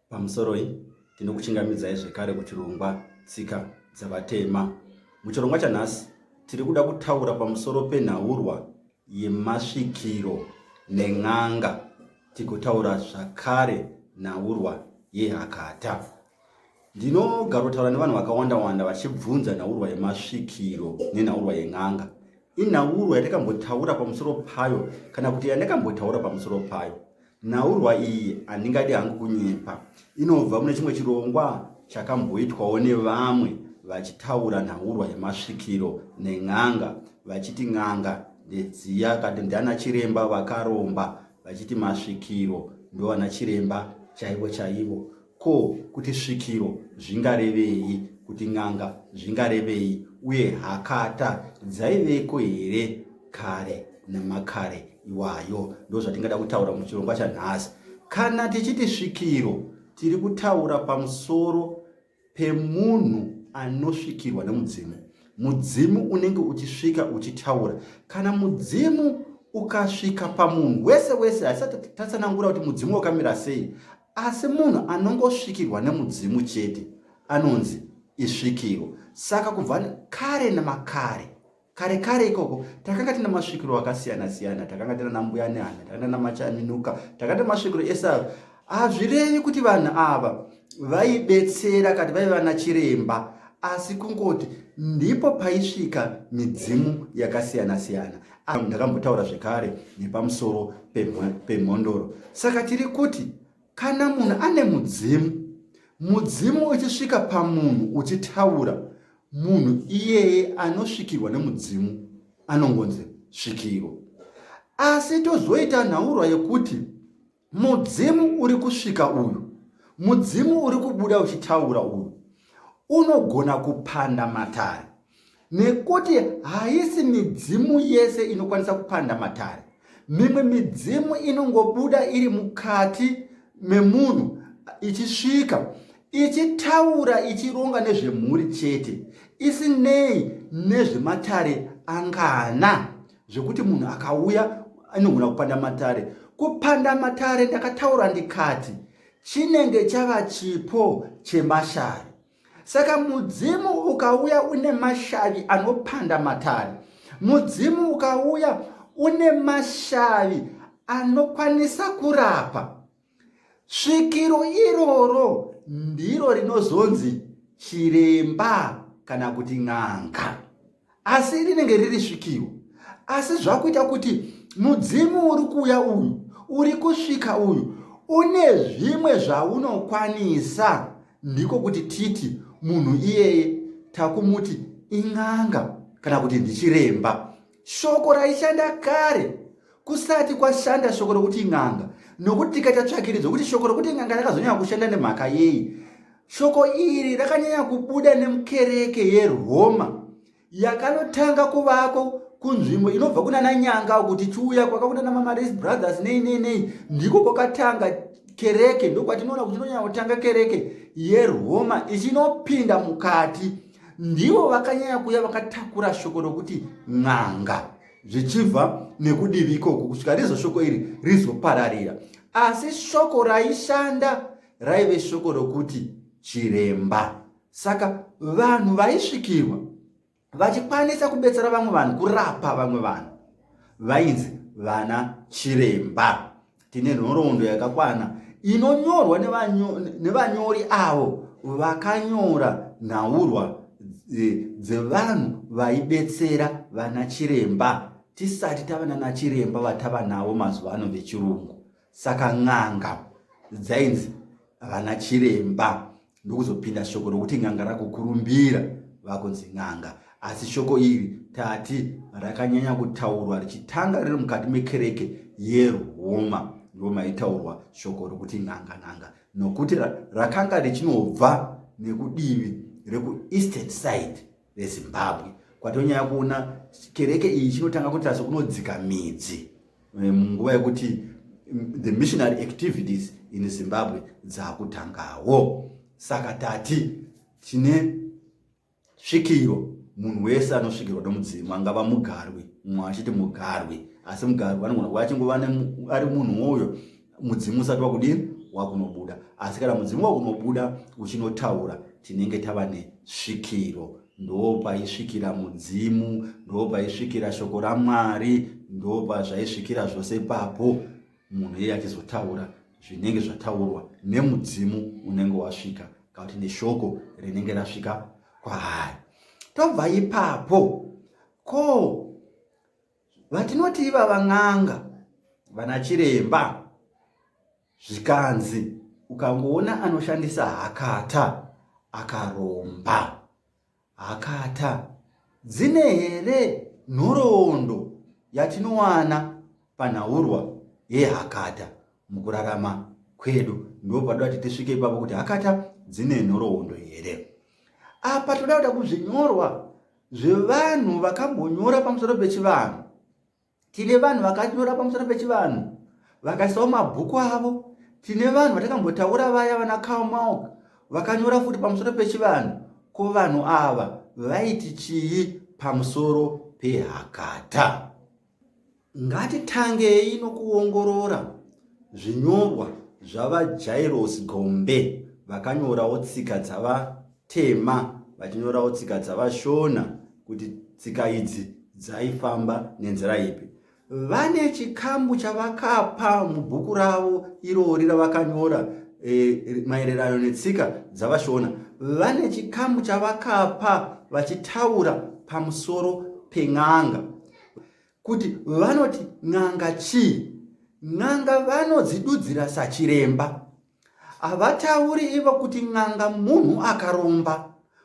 Pamusoroi, tinokuchingamidzai zvekare kuchirongwa Tsika dzaVatema. Muchirongwa chanhasi, tiri kuda kutaura pamusoro penhaurwa yemasvikiro nen'anga tigotaura zvakare nhaurwa yehakata. Ndinogarotaura nevanhu vakawanda wanda vachibvunza nhaurwa yemasvikiro nenhaurwa yen'anga. Inhaurwa yandakambotaura pamusoro payo kana kuti yandakambotaura pamusoro payo. Nhaurwa iyi handingadi hangu kunyepa. Inobva mune chimwe chirongwa chakamboitwawo nevamwe vachitaura nhaurwa yemasvikiro nen'anga vachiti n'anga ndedziya kati ndiana chiremba vakaromba vachiti masvikiro ndovana chiremba chaivo chaivo Ko kuti svikiro zvingarevei, kuti n'anga zvingarevei uye hakata dzaiveko here kare namakare iwayo? Ndozvatingada kutaura muchirongwa chanhasi. Kana tichiti svikiro, tiri kutaura pamusoro pemunhu anosvikirwa nemudzimu. Mudzimu unenge uchisvika uchitaura. Kana mudzimu ukasvika pamunhu wese wese, haisati tatsanangura kuti mudzimu wakamira sei, Asi munhu anongosvikirwa nemudzimu chete anonzi isvikiro. Saka kubva kare namakare, kare kare ikoko, takanga tina masvikiro akasiyana siyana. Takanga tina nambuya nehana, takanga tina machaminuka, takanga tina masvikiro ese ayo. Hazvirevi kuti vanhu ava vaibetsera kati vaive vana chiremba asi kungoti ndipo paisvika midzimu yakasiyana siyana Ah, ndakambotaura zvekare nepamusoro pemhondoro saka tiri kuti kana munhu ane mudzimu mudzimu uchisvika pamunhu uchitaura munhu iyeye anosvikirwa nemudzimu anongonzi svikiro asi tozoita nhaurwa yekuti Mudzimu uri kusvika uyu, mudzimu uri kubuda uchitaura uyu unogona kupanda matare, nekuti haisi midzimu yese inokwanisa kupanda matare. Mimwe midzimu inongobuda iri mukati memunhu ichisvika ichitaura ichironga nezvemhuri chete isinei nezvematare angana. zvekuti munhu akauya anogona kupanda matare kupanda matare ndakataura ndikati chinenge chava chipo chemashavi saka mudzimu ukauya une mashavi anopanda matare mudzimu ukauya une mashavi anokwanisa kurapa Svikiro iroro ndiro rinozonzi chiremba kana kuti n'anga, asi rinenge riri svikiro. Asi zvakuita kuti mudzimu uri kuuya uyu, uri kusvika uyu, une zvimwe zvaunokwanisa, ndiko kuti titi munhu iyeye takumuti in'anga kana kuti ndichiremba. shoko raishanda kare kusati kwashanda shoko rokuti n'anga nokuti tikaita tsvakiridzo kuti shoko rokuti n'anga rakazonyanya kushanda nemhaka yei shoko iri rakanyanya kubuda nemukereke yeroma yakanotanga kuvako kunzvimbo inobva kunana nyanga kuti chiuya kwakakunana mamaris brothers nei nei nei ndiko kwakatanga kereke ndokwatinoona kuti inonyanya kutanga kereke yeroma ichinopinda mukati ndivo vakanyanya kuya vakatakura shoko rokuti n'anga zvichibva nekudivi ikoko kusvika rizvo shoko iri rizopararira asi shoko raishanda raive shoko rokuti chiremba saka vanhu vaisvikirwa vachikwanisa kubetsera vamwe vanhu kurapa vamwe vanhu vainzi vana chiremba tine nhoroondo yakakwana inonyorwa nevanyori avo vakanyora nhaurwa dzevanhu vaibetsera vana chiremba tisati tava nana chiremba vatava navo mazuva ano vechirungu saka n'anga dzainzi vana chiremba ndokuzopinda shoko rokuti n'anga rakukurumbira vakunzi n'anga asi shoko iri tati rakanyanya kutaurwa richitanga riri mukati mekereke yerwoma ndo maitaurwa shoko rokuti n'anga n'anga nokuti rakanga richinobva nekudivi rekueastern side vezimbabwe kwatonyaya kuona kereke iyi chinotanga kuita sokunodzika midzi eh, munguva yekuti mm, the missionary activities in zimbabwe dzakutangawo saka tati tine svikiro munhu wese anosvikirwa nomudzimu angava mugarwi mumwe achiti mugarwi asi mugarwi anogona kuva achingova ari munhu uyo mudzimu usati wakudini wakunobuda asi kana mudzimu wakunobuda uchinotaura tinenge tava nesvikiro ndo paisvikira mudzimu ndo paisvikira shoko ramwari ndo pazvaisvikira zvose papo munhu iye achizotaura zvinenge zvataurwa nemudzimu unenge wasvika kana kuti neshoko rinenge rasvika kwaari tobva ipapo ko vatinoti ivava n'anga vana chiremba zvikanzi ukangoona anoshandisa hakata akaromba hakata dzine here nhoroondo yatinowana panhaurwa yehakata mukurarama kwedu ndo padoda kuti tisvike ipapo kuti hakata dzine nhoroondo here apa toda kuda kuzvinyorwa zvevanhu vakambonyora pamusoro pechivanhu tine vanhu vakanyora pamusoro pechivanhu vakaisawo mabhuku avo tine vanhu vatakambotaura vaya vana kalmauk vakanyora futi pamusoro pechivanhu ko vanhu ava vaiti chii pamusoro pehakata Ngatitangei nokuongorora zvinyorwa zvaVaJairos Gombe vakanyorawo tsika dzavatema vachinyorawo tsika dzavaShona kuti tsika idzi dzaifamba nenzira ipi. Vane chikamu chavakapa mubhuku ravo irori ravakanyora e, maererano netsika dzavaShona. Vane chikamu chavakapa vachitaura pamusoro pen'anga. kuti vanoti n'anga chii n'anga vanodzidudzira sachiremba havatauri ivo kuti n'anga munhu akaromba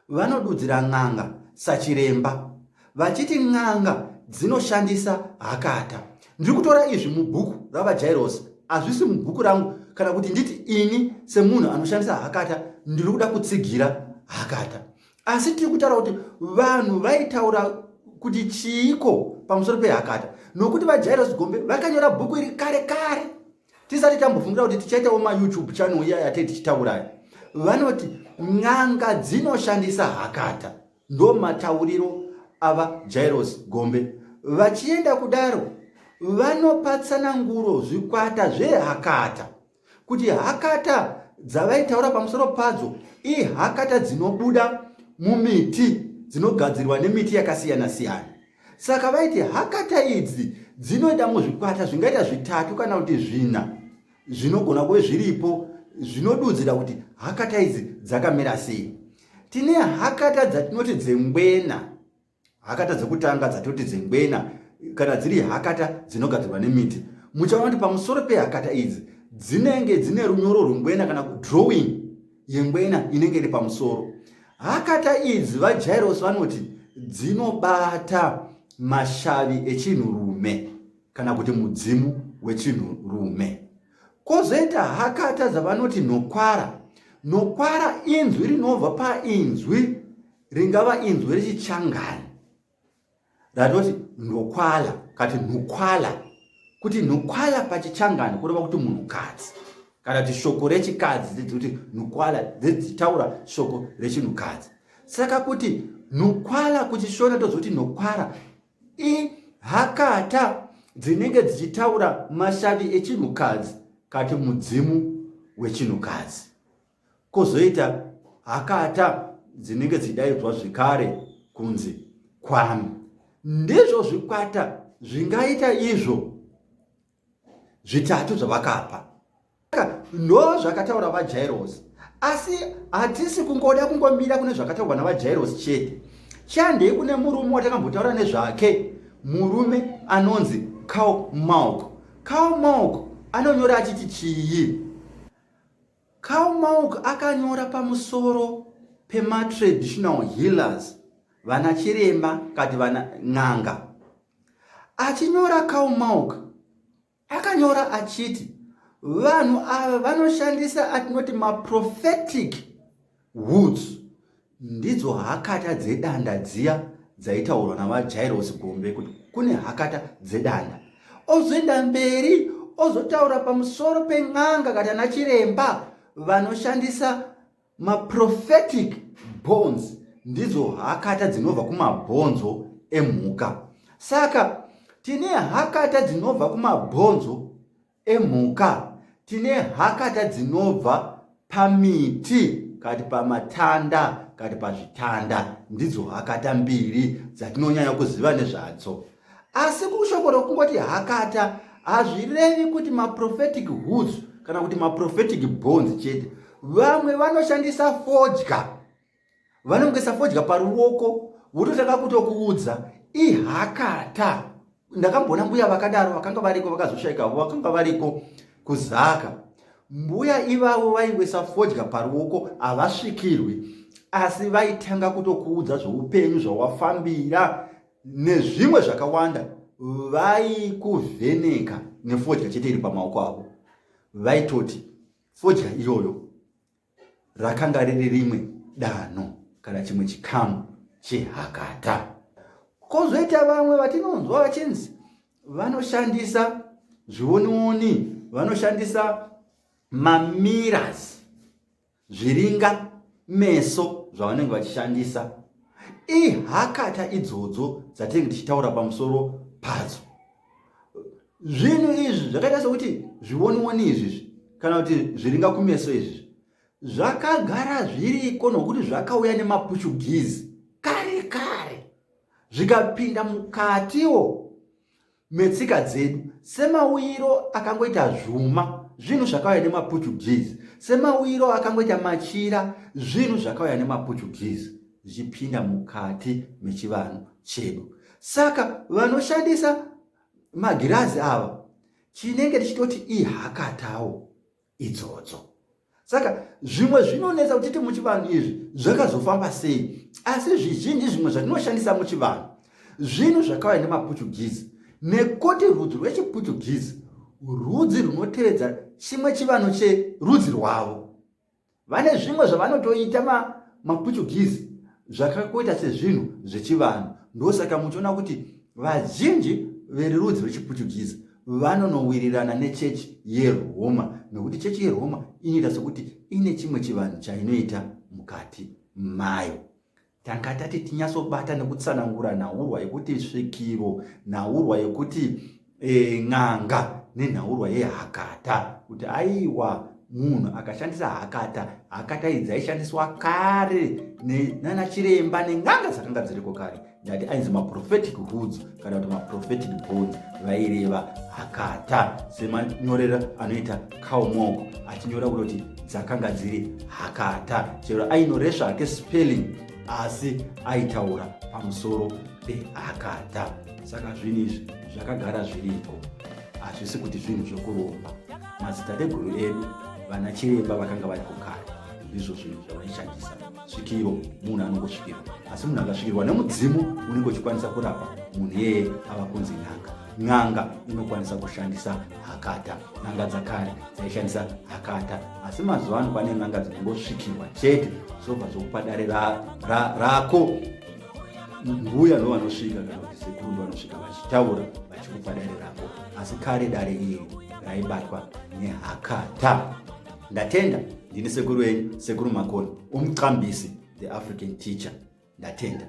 vanodudzira n'anga sachiremba vachiti n'anga dzinoshandisa hakata ndiri kutora izvi mubhuku ravajairosi hazvisi mubhuku rangu kana kuti nditi ini semunhu anoshandisa hakata ndiri kuda kutsigira hakata asi tiri kutaura kuti vanhu vaitaura kuti chiiko pamusoro pehakata nokuti vajairos gombe vakanyora bhuku iri kare kare tisati tambofungira kuti tichaitawo mayoutube channel iya yatei tichitaurayo vanoti n'anga dzinoshandisa hakata ndo matauriro ava jairos gombe vachienda kudaro vanopatsana nguro zvikwata zvehakata kuti hakata dzavaitaura pamusoro padzo ihakata dzinobuda mumiti dzinogadzirwa nemiti yakasiyana siyana saka vaiti hakata idzi dzinoita muzvikwata zvingaita zvitatu kana kuti zvina zvinogona kuve zviripo zvinodudzira kuti hakata idzi dzakamira sei tine hakata dzatinoti dzengwena hakata dzekutanga dzatoti dzengwena kana dziri hakata dzinogadzirwa nemiti muchaona kuti pamusoro pehakata idzi dzinenge dzine runyoro rwengwena kana kudrawing yengwena inenge iri pamusoro hakata idzi vajairos vanoti dzinobata mashavi echinhurume kana kuti mudzimu wechinhurume kwozoita hakata dzavanoti nokwara nokwara inzwi rinobva painzwi ringava inzwi rechichangani ratoti ndokwala kati nhukwala kuti nhukwala pachichangani kureva kuti munhukadzi kana kuti shoko rechikadzi dzidzi kuti nhukwala dzidzitaura shoko rechinhukadzi saka kuti nhukwala kuchishona tozoti nhokwara ihakata dzinenge dzichitaura mashavi echinhukadzi kati mudzimu wechinhukadzi kozoita hakata dzinenge dzidaidzwa zvekare kunzi kwami ndizvo zvikwata zvingaita izvo zvitatu zvavakapa ndo zvakataura vajairosi asi hatisi kungoda kungomira kune zvakataurwa navajairosi chete chandei kune murume watakambotaura nezvake murume anonzi cow malk cow malk anonyora achiti chii Karl Mauk akanyora pamusoro pematraditional healers, vana chiremba kati vana n'anga. Achinyora Karl Mauk akanyora achiti vanhu ava vanoshandisa atinoti maprophetic Woods ndidzo hakata dzedanda dziya dzaitaurwa navajairosi gombe kuti kune hakata dzedanda ozoenda mberi ozotaura pamusoro pen'anga kana nachiremba vanoshandisa maprophetic bones ndidzo hakata dzinobva kumabhonzo emhuka saka tine hakata dzinobva kumabhonzo emhuka tine hakata dzinobva pamiti kati pamatanda kati pazvitanda ndidzo hakata mbiri dzatinonyanya kuziva nezvadzo asi kushoko rokungoti hakata hazvirevi kuti maprophetic hoods kana kuti maprophetic bones chete vamwe vanoshandisa fodya vanongoisa fodya paruoko vototanga kutokuudza ihakata ndakamboona mbuya vakadaro vakanga variko vakazoshaikavo vakanga variko kuzaka mbuya ivavo vaingoisa fodya paruoko havasvikirwi asi vaitanga kutokuudza zveupenyu zvawafambira nezvimwe zvakawanda vaikuvheneka nefodya chete iri pamaoko avo vaitoti fodya iyoyo rakanga riri rimwe danho kana chimwe chikamu chehakata kozoita vamwe vatinonzwa vachinzi vanoshandisa zvionioni vanoshandisa mamiras zviringa meso zvavanenge vachishandisa ihakata idzodzo dzatinenge tichitaura pamusoro padzo zvinhu izvi zvakaita sokuti zvionioni izvizvi kana kuti zviringa kumeso izvi zvakagara zviriko nokuti zvakauya nemapuchugizi kare kare zvikapinda mukatiwo metsika dzedu semauyiro akangoita zvuma zvinhu zvakauya nemapuchugizi semauyiro akangoita machira zvinhu zvakauya nemapuchugizi zvichipinda mukati mechivanhu chedu saka vanoshandisa magirazi ava chinenge tichitoti ihakatawo idzodzo saka zvimwe zvinonetsa kutiti muchivanhu izvi zvakazofamba sei asi zvizhinji zvimwe zvatinoshandisa muchivanhu zvinhu zvakauya nemaportuguese nekuti rudzi rwechiportuguese rudzi runotevedza chimwe chivanhu cherudzi rwavo vane zvimwe zvavanotoita maportuguese zvakakoita sezvinhu zvechivanhu ndosaka muchiona kuti vazhinji verurudzi rwechiportuguese vanonowirirana nechechi yeroma nokuti chechi yeroma inoita sokuti ine chimwe chivanhu chainoita mukati mayo tanga tati tinyatsobata nekutsanangura nhaurwa yekuti svikiro nhaurwa yekuti e, n'anga nenhaurwa yehakata kuti aiwa munhu akashandisa hakata hakata idzi aishandiswa kare nanachiremba nen'anga dzakanga dziriko kare ndati ainzi maprophetic hoods kana kuti maprophetic bones vaireva hakata semanyorera anoita kaumoko achinyora kutoti dzakanga dziri hakata chero ainore zvake spelling asi aitaura pamusoro pehakata saka zvinhu izvi zvakagara zviriko hazvisi kuti zvinhu zvekuromba madzitateguru edu vana chiremba vakanga vari kukara ndizvo zvinhu zvavaishandisa svikiro munhu anongosvikirwa asi munhu akasvikirwa nemudzimu unenge uchikwanisa kurapa munhu yeye ava kunzi n'anga n'anga inokwanisa kushandisa hakata n'anga dzakare dzaishandisa hakata asi mazuva ano pane n'anga dzinongosvikirwa chete zvobva zvokupa dare rako mbuya no vanosvika kana kuti sekuru ndo vanosvika vachitaura vachikupa dare rako asi kare dare iri raibatwa nehakata ndatenda ndini sekuru enyu sekuru makoni umqambisi the african teacher ndatenda